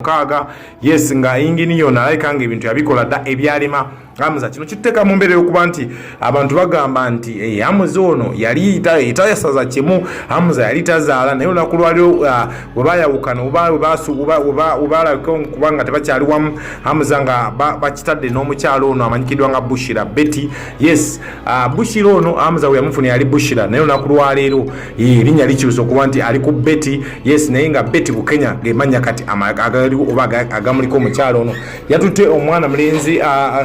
mukaaga yes nga yingini yona alabika nga ebintu yabikola dda ebyalima amuza kino kituteeka mu mbeera yokuba nti abantu bagamba nti eh, amuza ono yali tayasaza kimu amuza yali tazaala naye olunaku lwaliro ah, webayawukana webalabika kubanga tebakyali wamu amuza nga bakitadde n'omukyalo ono amanyikidwa nga bushira betty yes ah, bushira ono amuza weyamufuna yali bushira naye olunaku lwaleero erinnya likyusa okuba nti ali ku beti yes naye nga beti bukenya gemanya kati agaliwo oba agamuliko omukyalo ono yatutte omwana mulenzi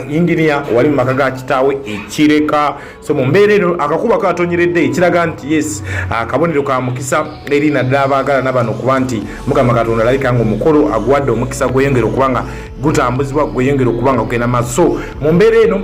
inginia wali mu maka ga kitaawe ekireka so mu mbeera eno akakuba katonyeredde ekiraga nti yes akabonero ka mukisa eri naddala abaagalana bano okuba nti mukama katonda alabika nga omukolo aguwadde omukisa gweyongera okuba nga gutambuzibwa gweyongera okuba nga gugenda maaso so mu mbeera eno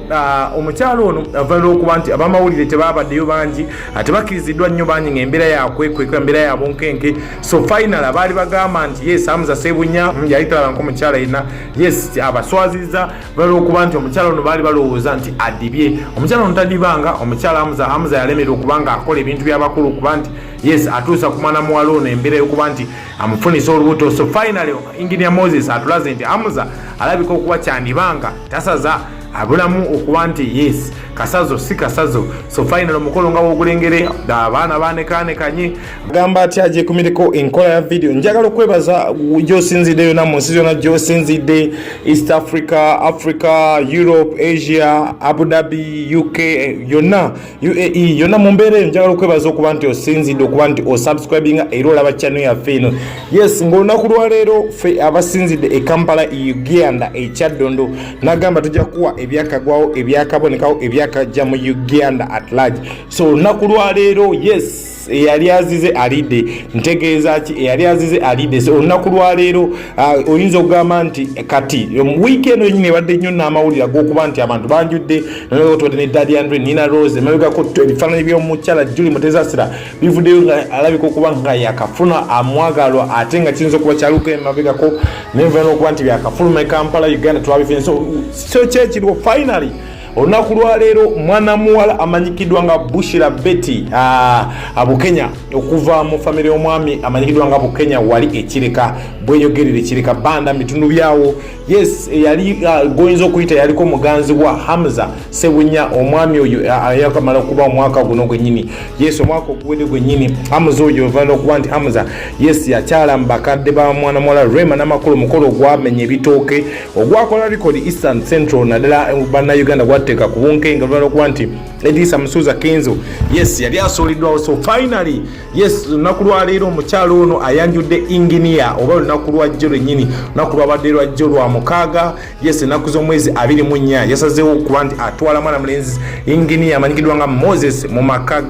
omukyalo ono avalira okuba nti abamawulire tebabaddeyo bangi ate bakkiriziddwa nnyo bangi nga embeera yakwekweka embeera ya bunkenke so final abaali bagamba nti yes amuza sebunya mm, yali talaba nko omukyala yina yes abaswaziza balwokuba nti omukyala ono baali balowooza nti adibye omukyala ono tadibanga omukyala amuza amuza yalemera okuba nga akola ebintu byabakulu okuba nti yes atuusa ku mwana muwala ono embeera yokuba nti amufunisa olubuto so final engineer moses atulaze nti amuza alabika okuba kyandibanga tasaza abulamu okuba nti yes kasazo si kasazo so final omukolo nga wogulengere abaana banekanekanye agamba ati ajekumireko enkola ya video njagala okwebaza gyosinzidde yona mu nsi zona gyosinzidde east africa africa europe asia abu dhabi uk yonna UAE yona mu mbeera eyo njagala okwebaza okuba nti osinzidde okuba nti osubscribinga era olaba chano yaffe eno yes ngaolunaku lwaleero fe abasinzidde e kampala uganda ekyaddondo nagamba tujja kuwa ebyakagwawo ebyakabonekawo ebyakajja mu uganda at large so olunaku lwaleero yes eyali azize alidde ntegeeza ki eyali azize alidde so olunaku lwaleero uh, oyinza okugamba nti kati um, wiiki eno yenyini ebadde nnyo n'amawulire ag'okuba nti abantu banjudde notwadde ne dadi andre nina rose emabegako ebifaananyi by'omukyala juli mutezasira bivuddeyo nga alabika okuba nga yakafuna amwagalwa ate nga kiyinza okuba kyaluka emabegako nenvana okuba nti byakafuluma e kampala uganda twabife so kyekiriwo finally olunaku lwaleero mwana muwala amanyikiddwa nga bushira betty ah, abukenya okuva mu famire y'omwami amanyikiddwa nga bukenya wali ekireka bweyogerera ekireka banda mitundu byawo yes yali ah, goyinza okuyita yaliko muganzi wa hamza sebunya omwami oyo ah, yakamala okuba omwaka guno gwenyini yes omwaka oguwede gwenyini hamza oyo ovana okuba nti hamza yes yakyala mu bakadde ba mwana muwala rema namakulu omukolo ogwamenya ebitooke ogwakola likodi eastern central naddala eh, bannayuganda gwateeka ku bunkenga lubala okuba nti edisa musuuza kenzo yes yali asuuliddwawo so finally yes lunaku lwaleero omukyalo ono ayanjudde inginiya oba lunaku lwajjo lwennyini lunaku lwabadde lwajjo lwa mukaaga yes ennaku z'omwezi abiri mu nnya yasazeewo okuba nti atwala mwana mulenzi inginiya amanyikiddwa nga moses mu maka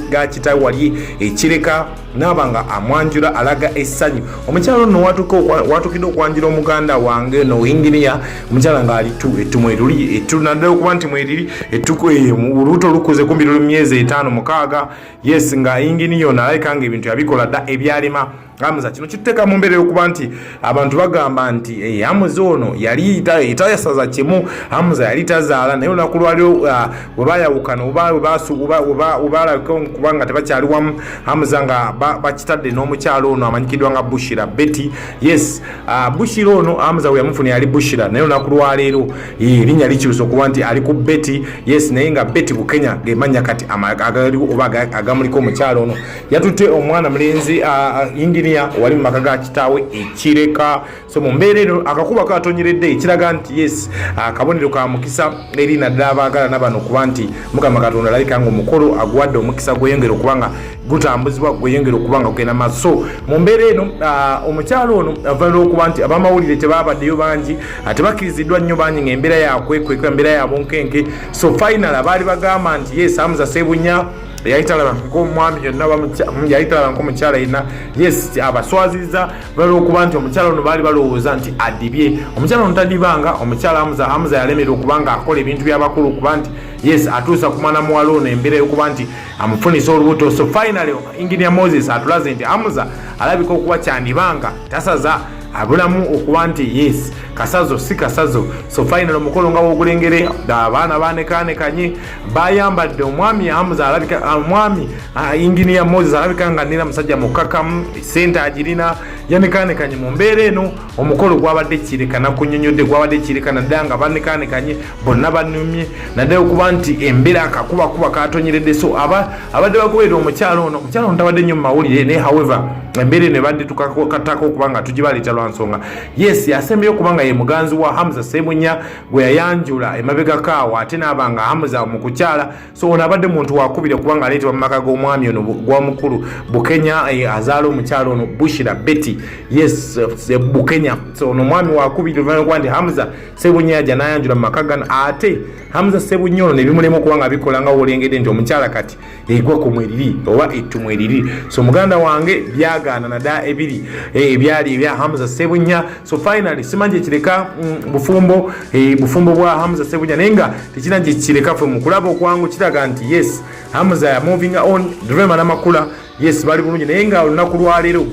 ga kitawe wali ekireka naaba nga amwanjula alaga essanyu omukyala ono watuka watukidde okwanjula omuganda wange no inginiya omukyala ngaali tu ettu mweruli ettu naddala okuba nti mweriri ettuku eyo olubuto lukuze kumbi luli myezi etaano mukaaga yes nga inginiya ono alabika nga ebintu yabikola dda ebyalima amuza kino kituteka mu mbeera yokuba nti abantu bagamba nti hey, eh, amuza ono yali itayasaza kimu amuza yali tazaala naye olunaku lwaliro uh, ah, webayawukana obalabika kubanga tebakyali wamu amuza nga bakitadde ba n'omukyalo ono amanyikidwa nga bushira betty yes uh, bushira ono amuza weyamufuna yali bushira naye olunaku lwaleero eh, erinnya likyusa okuba nti ali ku betty yes naye nga betty bukenya gemanya kati agaliwo oba agamuliko omukyalo ono yatutte omwana mulenzi yinginiya wali mu maka ga kitaawe ekireka so mu mbeera eno akakuba katonyeredde ekiraga nti yes akabonero ka mukisa eri naddala abaagalana bano kuba nti mukama katonda alabika nga omukolo aguwadde omukisa gweyongera okuba nga gutambuzibwa gweyongera okuba nga kugenda maaso so mu mbeera eno omukyalo ono avanira okuba nti abamawulire tebabaddeyo bangi tebakkiriziddwa nnyo bangi ngaembeera yakwekweka embeera yabunkenke so final abaali bagamba nti yes amuza sebunya yali talaba nkomwami yonna yali talaba nkomukyala yenna yes abaswaziza balwokuba nti omukyala ono baali balowooza nti adibye omukyala ono tadibanga omukyala amuza amuza yalemera okuba nga akola ebintu byabakulu okuba nti yes atuusa ku mwana muwala ono embeera yokuba nti amufunisa olubuto so finally engineer moses atulaze nti amuza alabika okuba kyandibanga tasaza abulamu okuba nti yes kasazo si kasazo so final omukolo nga wogulengere abaana banekanekanye bayambadde omwami amuza alabika ah, omwami ah, inginiya moses alabika nga nina musajja mukakamu sente agirina yanekaanekanye mu mbeera eno omukolo gwabadde kirekana kunyonyodde gwabadde kirekana ddala nga banekaanekanye bonna banumye naddala okuba nti embeera akakubakuba katonyeredde so abadde bagoberera omukyalo ono omukyalo ono tabadde nnyo mu mawulire naye however embeera eno ebadde tukakatako okuba nga tugibaleeta lwa nsonga yes yasembeyo okuba nga ye muganzi wa hamza sebunya gwe yayanjula emabega kaawo ate naaba nga hamuza mu kukyala so ono abadde muntu wakubira kubanga aleetebwa mu maka g'omwami ono gwamukulu bukenya eh, azaala omukyala ono bushira betty yes eh, bukenya so ono omwami wakubiri oluvanyuma kuba nti hamuza sebunya yaja nayanjula mu maka gano ate hamuza sebunya ono nebimulema okuba nga bikola nga wolengedde nti omukyala kati egwa ku mweriri oba ettu mweriri so muganda wange byagaana nada ebiri eh, ebyali ebya hamza sebunya so finally simanyi kyekireka mm, bufumbo eh, bufumbo bwa hamza sebunya naye nga tekina gyekireka fe mukulaba okwangu kiraga nti yes hamza ya moving on drema namakula yes bali bulungi naye nga olunaku lwaleero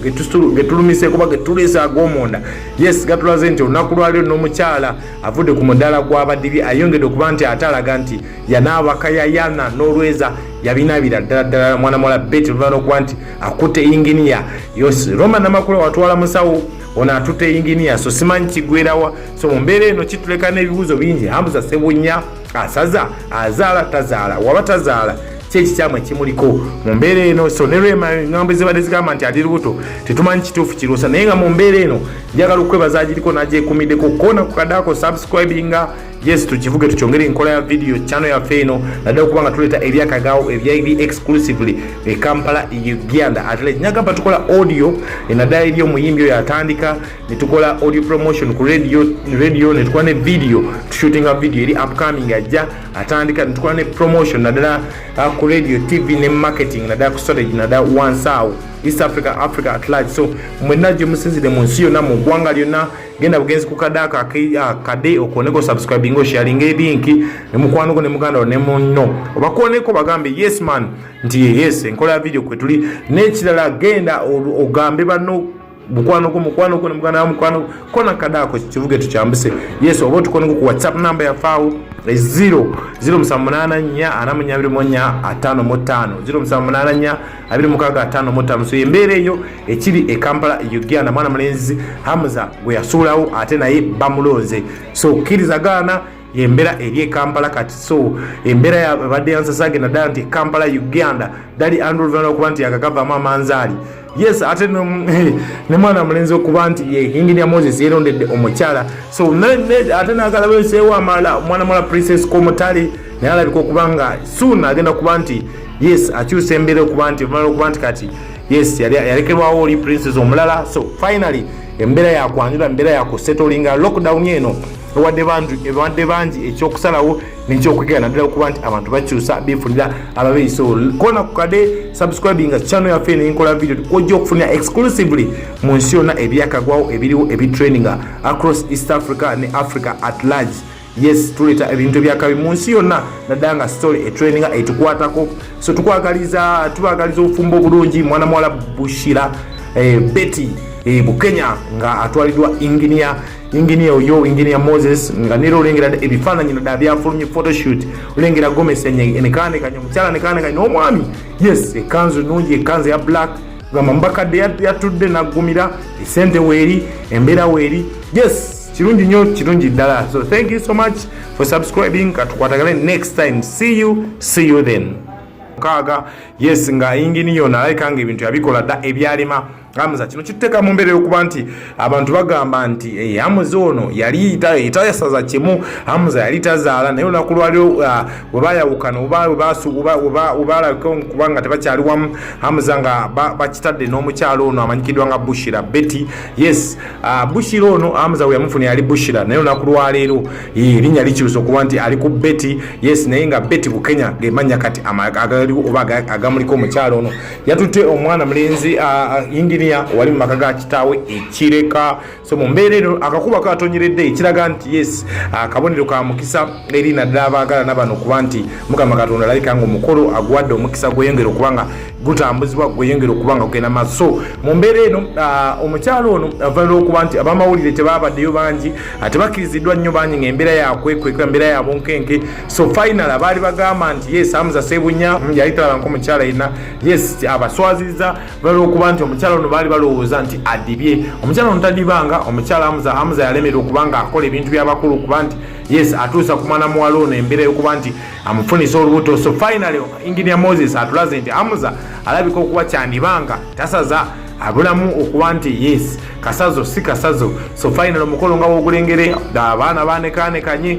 getulumise kuba getulese agomunda yes gatulaze nti olunaku lwaleero n'omukyala avudde ku mudaala gwabadibi ayongedde okuba nti ate alaga nti yanaabaka yayana n'olweza yabinaabira ddala ddala mwana muwala beti oluvana okuba nti akutte inginiya yosi roma namakula watwala musawo ono atutte inginiya so simanyi kigwerawa so mu mbeera eno kituleka n'ebibuuzo bingi hambuza sebunya asaza azaala tazaala waba tazaala kyekikyamu ekimuliko mu mbeera eno so ne rema engambo ezibadde zigamba nti ali lubuto tetumanyi kituufu kiruusa naye nga mu mbeera eno njagala okwebaza agiriko nagyekumiddeko kona kukadako subscribinga yes tukivuge tukyongere enkola ya video channel yaffe eno naddala okuba nga tuleeta ebyakagaawo ebyaibi exclusively e kampala e uganda atele nyagamba tukola audio e naddala eri omuyimbi oyo atandika netukola audio promotion ku radio radio netukola ne video tushootinga video eri upcoming ajja atandika netukola ne promotion naddala ah, ku radio tv ne marketing naddala ku strategy naddala wansi awo east africa africa at large so mwenna gye musinzire mu nsi yonna mu ggwanga lyonna genda bugenzi ku kade ako akade ah, okwoneko subscribing osharinga ebinki ne mukwano gwo ne muganda wo ne munno obakwoneko bagambe yes man nti yes enkola ya video kwe tuli n'ekirala genda ogambe banno mukwano gwo mukwano gwo ne muganda wa mukwano kona kade ako kivuge tukyambuse yes oba otukoneko ku whatsapp namba yafaawo eziro ziro musanvu munaana nnya ana munya abiri mu nnya ataano mu ttaano ziro musanvu munaana nnya abiri mukaaga ataano mu ttaano so embeera eyo ekiri e kampala e uganda mwana mulenzi hamza gwe yasuulawo ate naye bamulonze so kkiriza gaana yembeera eri e kampala kati so embeera yabadde yansasage naddala nti e kampala uganda dali andrew luvana okuba nti yakagavamu amanzaali yes ate ne mwana mulenzi okuba nti enginia moses yerondedde omukyala so ate nagala weseewo amala omwana mwala princess komutale naye alabika okuba nga suuna agenda kuba nti yes akyusa embeera okuba nti olumala okuba nti kati yes yalekerwawo oli princes omulala so finally embeera yakwanjula embeera yakusetolinga lockdown eno ewadde bangi ekyokusalawo nekyokwegera naddala okuba nti abantu bakyusa befunira ababeyi so kona kukade subscribinga channel yaffe nenkola video ojja okufunira exclusively mu nsi yonna ebyakagwawo ebiriwo ebitraininga across east africa ne africa at large yes tuleta ebintu ebyakabi mu nsi yonna naddala nga story etraininga etukwatako so tukwagaliza tubagaliza obufumbo obulungi mwana muwala bushira eh, betty eh, bukenya nga atwaliddwa enginia enginia oyo enginia moses nga nera olengera ebifaananyi naddala byafulumye photoshoot olengera gomesi enekaanekanya omukyala nekaanekanya n'omwami yes ekanzu nungi ekanzu ya black gamba mubakadde yatudde naggumira esente weeri embeera weeri yes kirungi nnyo kirungi ddala so thank you so much for subscribing katukwatagale next time see you see you then mukaaga yes nga yingini yona alabika nga ebintu yabikola dda ebyalima amuza kino kituteeka mu mbeera yokuba nti abantu bagamba nti hey, eh, amuza ono yali tayasaza kimu amuza yali tazaala naye olunaku lwaliro uh, webayawukana webalabika okuba nga tebakyali wamu amuza nga bakitadde n'omukyalo ono amanyikidwa nga bushira betty yes Ah, bushira ono amza weyamufuna yali bushira naye olunaku lwaleero erinnya likyusa okuba nti ali ku beti yes naye nga beti bukenya gemanya kati agaliwo oba agamuliko omukyalo ono yatutte omwana mulenzi ah, ah, inginia wali mu maka ga kitaawe ekireka so mu mbeera eno akakuba katonyeredde ekiraga nti yes akabonero ka mukisa eri naddala abaagalana bano okuba nti mukama katonda alabika nga omukolo aguwadde omukisa gweyongera okuba nga gutambuzibwa gweyongera okuba nga kugenda maaso so mu mbeera eno ah, omukyalo ono avalira okuba nti abamawulire tebabaddeyo bangi ah, tebakkiriziddwa nnyo bangi nga embeera yakwekweka embeera yabunkenke so final abaali bagamba nti yes amuza sebunya mm, yali talaba nko omukyala yenna yes abaswaziza valira okuba nti omukyala ono baali balowooza nti adibye omukyala ono tadibanga omukyala amuza amuza yalemerera okuba nga akola ebintu byabakulu okuba nti yes atuusa kumana muwala ono embeera yokuba nti amufunisa olubuto so finally engineer moses atulaze nti amuza alabika okuba kyandibanga tasaza abulamu okuba nti yes kasazo si kasazo so finally omukolo nga wogulengere abaana banekanekanye